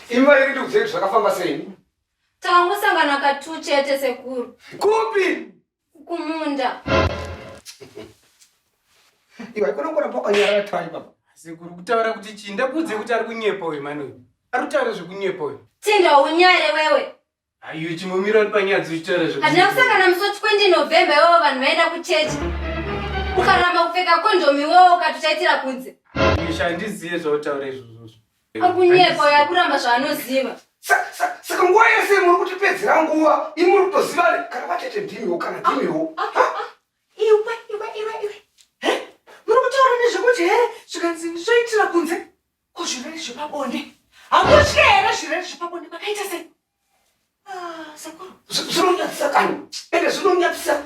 Imi vari kuti kudzei zvakafamba sei? Tangosangana katu chete sekuru. Kupi? Kumunda. Iwe haikona kuramba wakanyarara tai baba. Sekuru kutaura kuti chii? Ndakuudze kuti ari kunyepa uyu mani uyu. Ari kutaura zvekunyepa uyu. Tinda unyare wewe. Ayo chimomira uri panyaya dzechitaura zvekuti. Hazvina kusangana musoti 20 November iwewo vanhu vaenda kuchechi. Ukaramba kupfeka condom iwewo ukatochaitira kunze. Isha handizive zvautaura izvozvo. Akunyepa uyo akuramba zvaanoziva. Saka nguva yese muri kutipedzera nguva imi muri kutoziva kana vatete ndimiwo kana ndimiwo. Ah, ah, ah, iwe iwe iwe iwe. Muri kutaura nezvekuti here zvikanzi zvoitira kunze. Ko zvirwere zvepabonde hamutye here zvirwere zvepabonde makaita sei? Ah, sekuru zvinonyadzisa kani ende zvinonyadzisa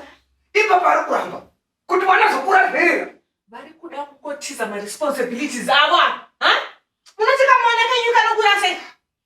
ipapa ari kuramba kuti mwana zokura zverera vari kuda kukotiza maresponsibilities avo ava munotika mwana kenyu kanokura sei